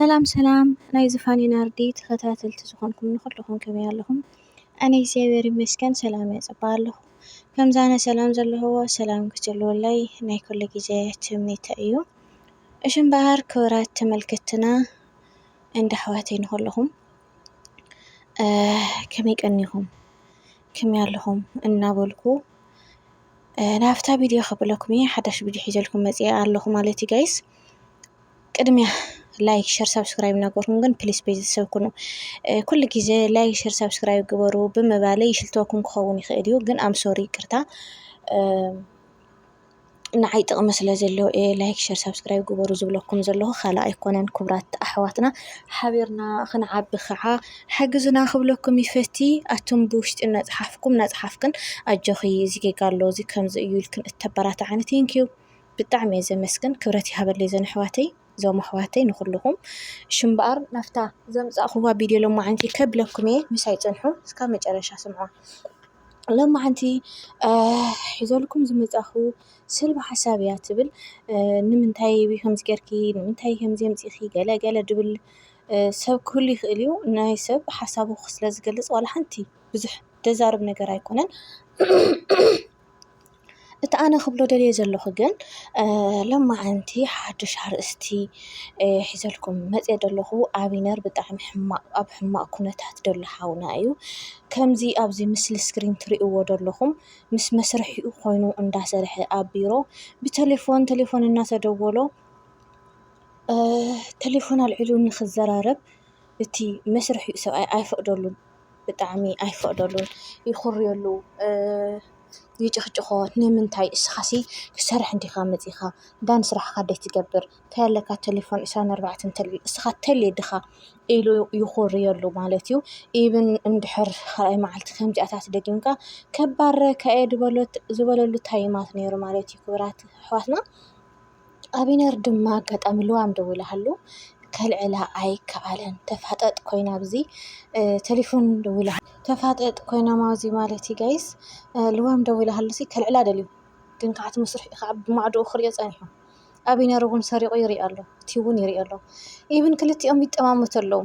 ሰላም ሰላም ናይ ዝፋኒ ናርዲ ተኸታተልቲ ዝኾንኩም ንኹልኹም ከመይ ኣለኹም? ኣነ እግዚኣብሔር ይመስገን ሰላም እየ ጽባ ኣለኹ። ከምዛ ኣነ ሰላም ዘለኹዎ ሰላም ክትህልወለይ ናይ ኩሉ ግዜ ትምኒተ እዩ። እሺ እምበኣር ክብራት ተመልከትና እንዳ ኣሕዋተይ ንኹልኹም ከመይ ቀኒኹም ከመይ ኣለኹም እናበልኩ ናብታ ቪድዮ ከብለኩም እየ ሓዳሽ ቪድዮ ሒዘልኩም መጽኣ ኣለኹ ማለት እዩ ጋይስ። ቅድሚያ ላይክ ሸር ሳብስክራይብ እናገበርኩም ግን ፕሊስ ቤተሰብ ኩኑ ኩሉ ግዜ ላይክ ሸር ሳብስክራይብ ግበሩ ብምባለይ ይሽልተኩም ክኸውን ይኽእል እዩ ግን ኣምሶሪ ይቅርታ ንዓይ ጥቕሚ ስለ ዘለዎ እየ ላይክ ሸር ሳብስክራይብ ግበሩ ዝብለኩም ዘለኹ ካልእ ኣይኮነን ክብራት ኣሕዋትና ሓቢርና ክንዓቢ ከዓ ሓግዙና ክብለኩም ይፈቲ ኣቱም ብውሽጢ እናፅሓፍኩም እናፅሓፍክን ኣጆኺ እዚ ጌጋ ኣሎ እዚ ከምዚ እዩ ኢልክን እተበራትዓኒ ቴንኪዩ ብጣዕሚ እየ ዘመስግን ክብረት ይሃበለይ ዘን ኣሕዋተይ ዞም ኣሕዋተይ ንኹሉኹም እሺ እምበኣር ናፍታ ዘምጻእኹዋ ቪድዮ ሎማዓንቲ ከብለኩም እየ ምሳይ ጽንሑ እስካብ መጨረሻ ስምዑዋ ሎማዓንቲ ሒዘልኩም ዝመጻኹ ስልባ ሓሳብ እያ ትብል ንምንታይ ከምዚ ጌርኪ ንምንታይ ከምዚ ኣምጺኺ ገለ ገለ ድብል ሰብ ክህሉ ይኽእል እዩ ናይ ሰብ ሓሳቡ ስለ ዝገልጽ ዋላ ሓንቲ ብዙሕ ደዛርብ ነገር ኣይኮነን እቲ ኣነ ክብሎ ደልየ ዘለኹ ግን ሎማዓንቲ ሓዱሽ ኣርእስቲ ሒዘልኩም መጽየ ዘለኹ ኣብነር ብጣዕሚ ሕማቅ ኣብ ሕማቅ ኩነታት ዘሎ ሓውና እዩ። ከምዚ ኣብዚ ምስሊ ስክሪን ትርእይዎ ዘለኹም ምስ መስርሒኡ ኮይኑ እንዳሰርሐ ኣብ ቢሮ ብተሌፎን ተሌፎን እናተደወሎ ተሌፎን ኣልዒሉ ንኽዘራረብ እቲ መስርሒኡ ሰብኣይ ኣይፈቅደሉን። ብጣዕሚ ኣይፈቅደሉን ይኹርየሉ ይጭኽጭኾ ንምንታይ እስኻሲ ክትሰርሕ እንዲኻ መፂኻ እንዳ ንስራሕኻ ደይ ትገብር ታይ ኣለካ ቴሌፎን ዕስራን ኣርባዕተን እንተልዕል እስኻ ቴሌ ድኻ ኢሉ ይኹርየሉ ማለት እዩ። ኢቭን እንድሕር ካልኣይ መዓልቲ ከምዚኣታት ደጊምካ ከባርረካ እየ ዝበለሉ ታይማት ነይሩ ማለት እዩ ክብራት ኣሕዋትና። ኣቢነር ድማ ኣጋጣሚ ልዋም ደዊላትሉ ከልዕላ ኣይከኣለን ተፋጠጥ ኮይና ኣብዚ ተሌፎን ደዊላ ተፋጠጥ ኮይና ኣብዚ ማለት እዩ ጋይስ ልዋም ደዊላትሉ ከልዕላ ደልዩ ግን ከዓ እቲ መስርሑ ከዓ ብማዕድኡ ክሪኦ ፀኒሑ ኣቢነር እውን ሰሪቑ ይሪኦ ኣሎ እቲ እውን ይሪኦ ኣሎ ኢቭን ክልቲኦም ይጠማመቱ ኣለዉ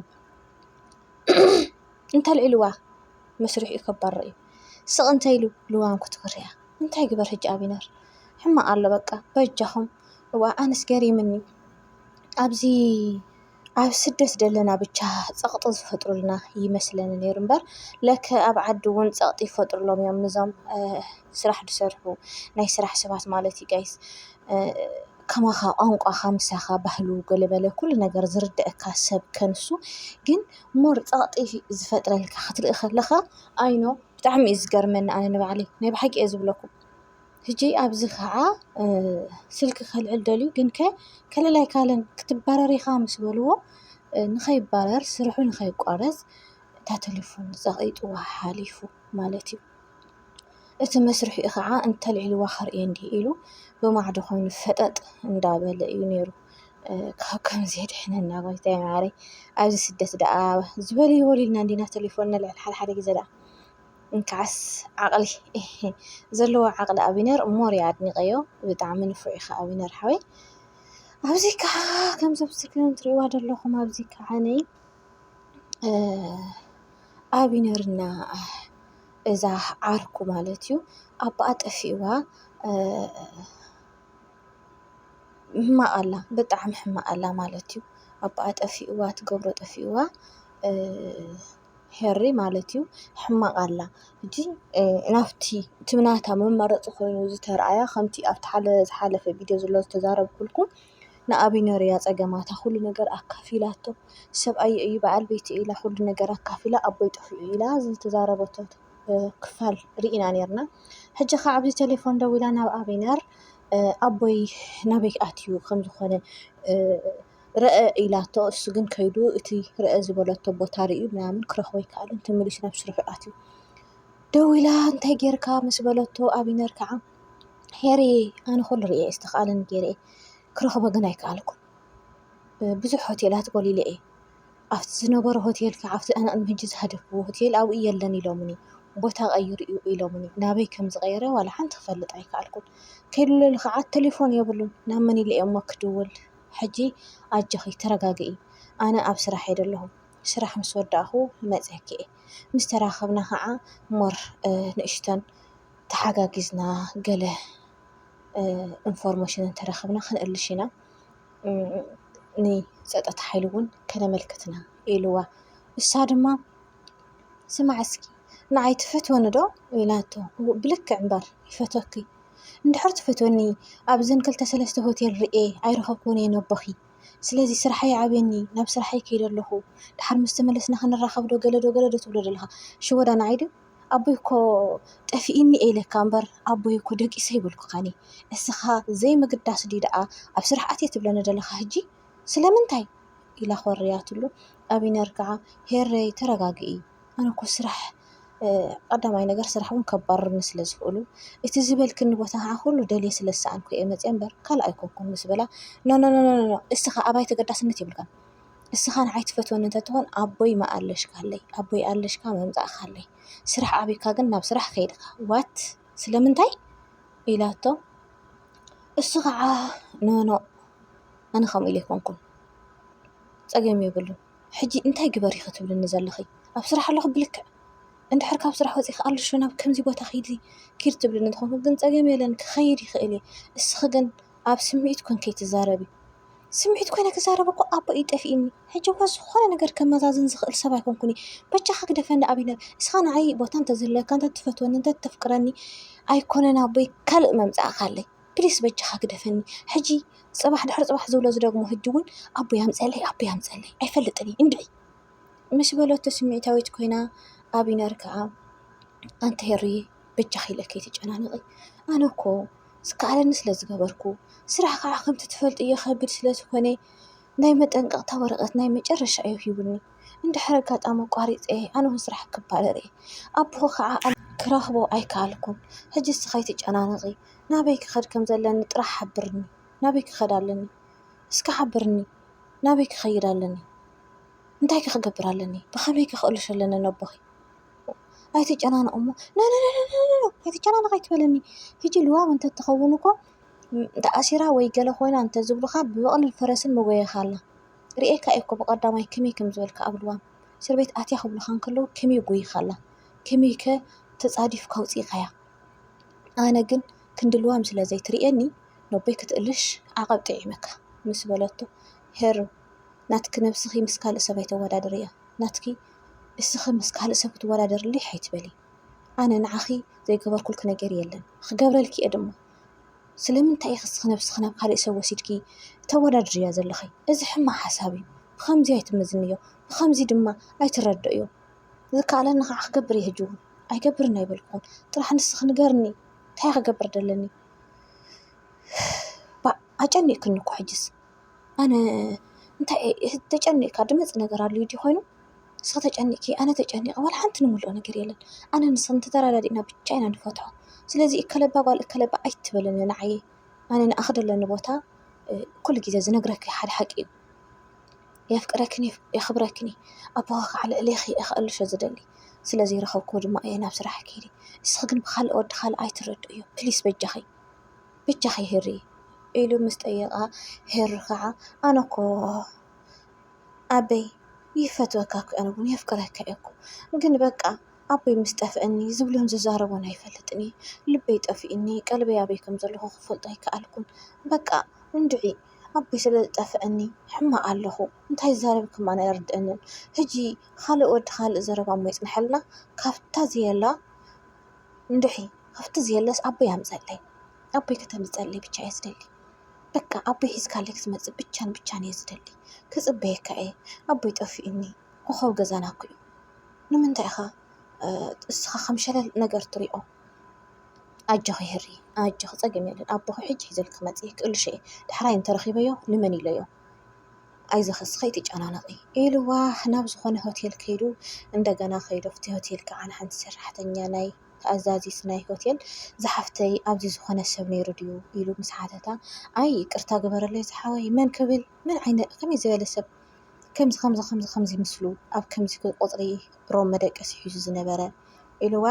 እንተልዒልዋ መስርሑ ከባድ እዩ ስቕ እንተኢሉ ልዋም ክትወርያ። እንታይ ግበር ሕጂ ኣቢነር ሕማቅ ኣሎ በቃ በጃኩም እዋእ ኣነስ ገሪምኒ ኣብዚ ኣብ ስደት ዘለና ብቻ ጸቅጢ ዝፈጥሩልና ይመስለኒ ነይሩ እምበር ለከ ኣብ ዓዲ እውን ጸቅጢ ይፈጥሩሎም እዮም ንዞም ስራሕ ዝሰርሑ ናይ ስራሕ ሰባት ማለት እዩ ጋይስ ከማኻ ቋንቋኻ ምሳኻ ባህሉ ገለመለ ኩሉ ነገር ዝርደአካ ሰብ ከንሱ ግን ሞር ጸቅጢ ዝፈጥረልካ ክትርኢ ከለኻ ኣይ ኖ። ብጣዕሚ እዩ ዝገርመኒ ኣነ ንባዕለይ ናይ ብሓቂ እየ ዝብለኩም ሕጂ ኣብዚ ከዓ ስልኪ ከልዕል ደልዩ ግንከ ከልል ኣይካለን ክትባረር ኢኻ ምስ በልዎ ንኸይባረር ስርሑ ንኸይቋረፅ እታ ተለፎን ፀቒጥዋ ሓሊፉ ማለት እዩ። እቲ መስርሒኡ ኸዓ እንተልዒልዋ ከርእየኒ ኢሉ ብማዕዶ ኾይኑ ፈጠጥ እንዳበለ እዩ ነይሩ። ካብ ከምዚ የድሕነና ጎይታይ መዓረይ ኣብዚ ስደት ደኣ ዝበሉ ይበሉ ኢልና እንዲና ተሊፎን ነልዕል ሓደ ሓደ ግዜ ደኣ እንካዓስ ዓቕሊ ዘለዎ ዓቕሊ ኣቢነር ሞር እየ ኣድኒቐዮ ብጣዕሚ ንፉዕ ኢኻ ኣቢነር ሓወይ ኣብዚ ከዓ ከምዚ ኣብ ስክሪን ትሪእዋ ዘለኹም ኣብዚ ከዓ ነይ ኣቢነርና እዛ ዓርኩ ማለት እዩ ኣባኣ ጠፊእዋ ሕማቅ ኣላ ብጣዕሚ ሕማቅ ኣላ ማለት እዩ ኣባኣ ጠፊእዋ ትገብሮ ጠፊእዋ ሄሪ ማለት እዩ ሕማቅ ኣላ ሕጂ ናብቲ እቲ ናታ መማረፂ ኮይኑ ዝተርኣያ ከምቲ ኣብቲ ዝሓለፈ ቪድዮ ዘሎ ዝተዛረብኩልኩም ንኣብይ ነርያ ፀገማታ ኩሉ ነገር ኣካፊላቶ ሰብኣየይ እዩ በዓል ቤተይ እዩ ኢላ ኩሉ ነገር ኣካፊላ ኣቦይ ጠፊኡ ኢላ ዝተዛረበቶ ክፋል ርኢና ነርና ሕጂ ኸዓ ኣብዚ ቴሌፎን ደዊላ ናብ ኣቢነር ኣቦይ ናበይ ኣትዩ ከም ዝኾነ ርኣ ኢላቶ እሱ ግን ከይዱ እቲ ርኣ ዝበለቶ ቦታ ርእዩ ምናምን ክረኽቦ ኣይከኣለን ተመሊሱ ናብ ስርሑ ኣትዩ ደዊላ እንታይ ጌርካ ምስ በለቶ ኣቢነር ከዓ ሄሪ ኣነ ኹሉ ርእየ ዝተኽኣለኒ ጌረ እየ ክረኽቦ ግን ኣይከኣልኩን ብዙሕ ሆቴላት ጎሊለ እየ ኣብቲ ዝነበሮ ሆቴል ክዓ ኣብቲ ኣነ ቅድሚ ሕጂ ዝሃደግዎ ሆቴል ኣብኡ የለን ኢሎምኒ ቦታ ቀይሩ እዩ ኢሎምኒ ናበይ ከም ዝቀየረ ዋላ ሓንቲ ክፈልጥ ኣይከኣልኩን ቴሌ ክዓ ቴሌፎን የብሉን ናብ መን ኢለ እየ እሞ ክድውል ሕጂ ኣጆኺ ተረጋግኢ ኣነ ኣብ ስራሕ እየ ዘለኹ ስራሕ ምስ ወዳእኹ ክመፅየኪ እየ ምስ ተራኸብና ክዓ ሞር ንእሽተን ተሓጋጊዝና ገለ ኢንፎርሜሽን እንተረኸብና ክንእልሽ ኢና። ንፀጥታ ሓይሊ እውን ከነመልክት ኢና ኢልዋ። ንሳ ድማ ስማዕ እስኪ ንዓይ ትፈትወኒ ዶ ኢላቶ ብልክዕ እምበር ይፈትወኪ እንድሕር ትፈትወኒ ኣብዘን ክልተ ሰለስተ ሆቴል ሪኤ ኣይረኸብክዎን እየ ነቦኺ ስለዚ ስርሐይ ዓብየኒ ናብ ስርሐይ ከይደ ኣለኹ ድሓር ምስ ተመለስና ክንራኸብ ዶ ገለ ዶ ገለ ዶ ትብሎ ዘለኻ ሽወዳ ንዓይ ድዩ ኣቦይ እኮ ጠፊኢኒ እየ ኢለካ እምበር ኣቦይ እኮ ደቂሰ ኣይበልኩኻን እየ እስኻ ዘይምግዳስ ድዩ ደኣ ኣብ ስራሕ ኣትየ ትብለኒ ዘለኻ ህጂ ስለምንታይ ኢላ ኮርያትሉ ኣቢነር ከዓ ሄረይ ተረጋግኢ ኣነ እኮ ስራሕ ቀዳማይ ነገር ስራሕ እውን ከባርሩኒ ስለ ዝኽእሉ እቲ ዝበልክኒ ቦታ ከዓ ኩሉ ደልየ ስለ ዝሰኣንኩ እየ መፅየ እምበር ካልእ ኣይኮንኩን ምስ በላ ኖኖኖኖኖ እስኻ ኣባይ ተገዳስነት የብልካን እስኻን ኣይትፈትወንን ተትኾን ኣቦይ ምኣለሽካለይ ኣቦይ ኣለሽካ ምምጻእካለይ ስራሕ ኣቢካ ግን ናብ ስራሕ ከይድካ ዋት ስለምንታይ ኢላቶ እሱ ከዓ ኖኖ ኣነ ከምኡ ኢለ ኣይኮንኩን ጸገም የብሉን ሕጂ እንታይ ግበሪ ክትብልኒ ዘለኺ ኣብ ስራሕ ኣለኹ ብልክዕ እንድሕር ካብ ስራሕ ወጺእኺ ኣለሽ ናብ ከምዚ ቦታ ኺዲ ኪድ ትብልኒ ተኾንኩ ግን ጸገም የለን ክኸይድ ይኽእል እየ እስኺ ግን ኣብ ስምዒት ኮንኪ ትዛረቢ ስምዒት ኮይነ ክዛረብ እኮ ኣቦይ እዩ ጠፊእኒ ሕጂ እኮ ዝኾነ ነገር ከመዛዝን ዝኽእል ሰብ ኣይኮንኩን እየ በጃኻ ግደፈኒ ኣቢለ እስኻ ንዓይ ቦታ እንተዝህልወካ እንተትፈትወኒ እንተተፍቅረኒ ኣይኮነን ኣቦይ ካልእ መምጻእካለይ ፕሊስ በጃኻ ግደፈኒ ሕጂ ጽባሕ ድሕሪ ጽባሕ ዝብሎ ዝደግሞ ሕጂ እውን ኣቦይ ኣምጸለይ ኣቦይ ኣምጸለይ ኣይፈልጥን እዩ እንድዒ ምስ በለቶ ስምዒታዊት ኮይና ኣቢነር ከዓ ኣንተ ሄሪ በጃኺ ኢለ ከይትጨናነቂ ኣነ እኮ ዝከኣለኒ ስለ ዝገበርኩ ስራሕ ከዓ ከምቲ ትፈልጥዮ ከቢድ ስለ ዝኾነ ናይ መጠንቀቕታ ወረቐት ናይ መጨረሻ እዩ ሂቡኒ እንድሕር ኣጋጣሚ ኣቋሪፀ ኣነ ውን ስራሕ ክባረር እየ ኣቦኺ ከዓ ክረኽቦ ኣይከኣልኩን ሕጂ ንስኺ ኣይትጨናነቂ ናበይ ክኸድ ከም ዘለኒ ጥራሕ ሓብርኒ ናበይ ክኸድ ኣለኒ እስከ ሓብርኒ ናበይ ክኸይድ ኣለኒ እንታይ ከ ክገብር ኣለኒ ብኸመይ ከ ክቅልሶ ኣለኒ ነቦኺ። ኣይትጨናነቑ እሞ ኖኖኖኖኖኖ ኣይትጨናነቕ ኣይትበለኒ ሂጂ ልዋም እንተትኸውን እኮ ተኣሲራ ወይ ገለ ኮይና እንተዝብሉኻ ብበቕልን ፈረስን መጎየኻ ኣላ ርኤካ እየ እኮ ብቐዳማይ ከመይ ከም ዝበልካ ኣብ ልዋም እስር ቤት ኣትያ ክብሉኻ እንከለዉ ከመይ ጎይኻ ኣላ ከመይ ከ ተጻዲፍካ ኣውጺእካያ ኣነ ግን ክንዲ ልዋም ስለ ዘይትርእየኒ ነቦይ ክትእልሽ ዓቐብ ጥዒመካ ምስ በለቶ ሄሩ ናትኪ ነብስኺ ምስ ካልእ ሰብ ኣይተወዳድርያ ናትኪ እስኺ ምስ ካልእ ሰብ ክትወዳደርለይ ኣይትበሊ ኣነ ንዓኺ ዘይገበርኩልኪ ነገር የለን ኽገብረልኪ እየ ድማ ስለምንታይ ኢኺ እስኺ ነብስኺ ናብ ካልእ ሰብ ወሲድኪ ተወዳድርያ ዘለኺ እዚ ሕማቅ ሓሳብ እዩ ብኸምዚ ኣይትመዝንዮ ብኸምዚ ድማ ኣይትረድእዮ ዝከኣለኒ ኻዓ ክገብር እየ ሕጂ ዉን ኣይገብርን ኣይበልኩኹን ጥራሕ ንስኺ ንገርኒ እንታይ እየ ክገብር ደለኒ ባእ ኣጨኒቅክኒ እኮ ሕጅስ። ኣነ እንታይ እየ ተጨኒቕካ ድመፅእ ነገር ኣልዩ ድዩ ኾይኑ ንስኺ ተጨኒቕኪ ኣነ ተጨኒቐ ዋላ ሓንቲ ንብሎ ነገር የለን ኣነ ንስኺ ተተረዳዲእና ብቻ ኢና ንፈትሖ ስለዚ እከለ እባ ጓል እከለ እባ ኣይትበልኒ ንዓይ ኣነ ንኣኺ ዘለኒ ቦታ ኩሉ ግዜ ዝነግረኪ ሓደ ሓቂ እዩ የፍቅረክን እዩ የኽብረክን እዩ ኣቦኺ ከዓ ልዕሌኺ እየ ከእልሾ ዝደሊ ስለዘይረኸብክዎ ድማ እየ ናብ ስራሕ ከይደ ንስኺ ግን ብኻልእ ወዲ ካልእ ኣይትረድእዮ ፕሊስ በጃኺ። ብጃኺ ህሪ ኢሉ ምስ ጠየቓ ህሪ ኸዓ ኣነ እኮ ኣቦይ ይፈትወካ እኮ ኣነ ውን የፍቅረካ እየ እኮ ግን በቃ ኣቦይ ምስ ጠፍኣኒ ዝብሎን ዝዛረቦን ኣይፈልጥን እየ ልበይ ጠፊኡኒ ቀልበይ ኣበይ ከም ዘሎ ክፈልጦ ኣይከኣልኩን በቃ እንድዒ ኣቦይ ስለ ዝጠፍኣኒ ሕማቕ ኣለኹ እንታይ ዝዛረብ ከማን ኣይርድኣንን ሕጂ ኻልእ ወዲ ኻልእ ዘረባ እሞ ይጽንሓልና ካብታ ዘየላ እንድዒ ሃፍቲ ዘየለስ ኣቦይ ኣምፀኣለይ ኣቦይ ከተምፅኣለይ ብቻ እየ ዝደሊ በቃ ኣቦይ ሒዝካለይ ክትመፅእ ብቻን ብቻን እየ ዝደሊ ክፅበየካ እየ ኣቦይ ጠፊኡኒ ኮኾብ ገዛና እኮ እዩ ንምንታይ ኢኻ እስኻ ከም ሸለል ነገር ትሪኦ ኣጆኺ ህሪ ኣጆኺ ፀገም የለን ኣቦኺ ሕጂ ሒዘልኪ ክመፅእ እየ ክእልሾ እየ ዳሕራይ እንተረኺበዮ ንመን ኢለዮ ኣይዞኺ እስኪ ከይትጨናነቂ ኢልዋ ናብ ዝኾነ ሆቴል ከይዱ እንደገና ከይዱ ኣብቲ ሆቴል ከዓ ንሓንቲ ሰራሕተኛ ናይ ኣዛዚት ናይ ሆቴል ዝሓፍተይ ኣብዚ ዝኾነ ሰብ ነይሩ ድዩ ኢሉ ምስ ሓተታ ኣይ ይቅርታ ግበረለይ ዝሓወይ መን ክብል መን ዓይነት ከመይ ዝበለ ሰብ ከምዚ ከምዚ ከምዚ ከምዚ ምስሉ ኣብ ከምዚ ቁፅሪ ሮም መደቀሲ ሒዙ ዝነበረ ኢሉዋ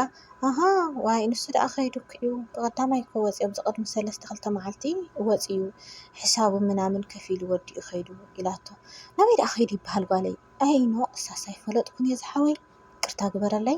ኣሃ ዋይ ንሱ ደኣ ከይዱ እኮ እዩ ብቀዳማይ እኮ ወጺኦም ዝቅድሚ ሰለስተ ክልተ መዓልቲ ወጺኡ ሕሳቡ ምናምን ከፊሉ ወዲኡ ከይዱ ኢላቶ ናበይ ደኣ ከይዱ ይበሃል ጓለይ ኣይ ኖእ እሳስ ኣይፈለጥኩን እየ ዝሓወይ ይቅርታ ግበረለይ።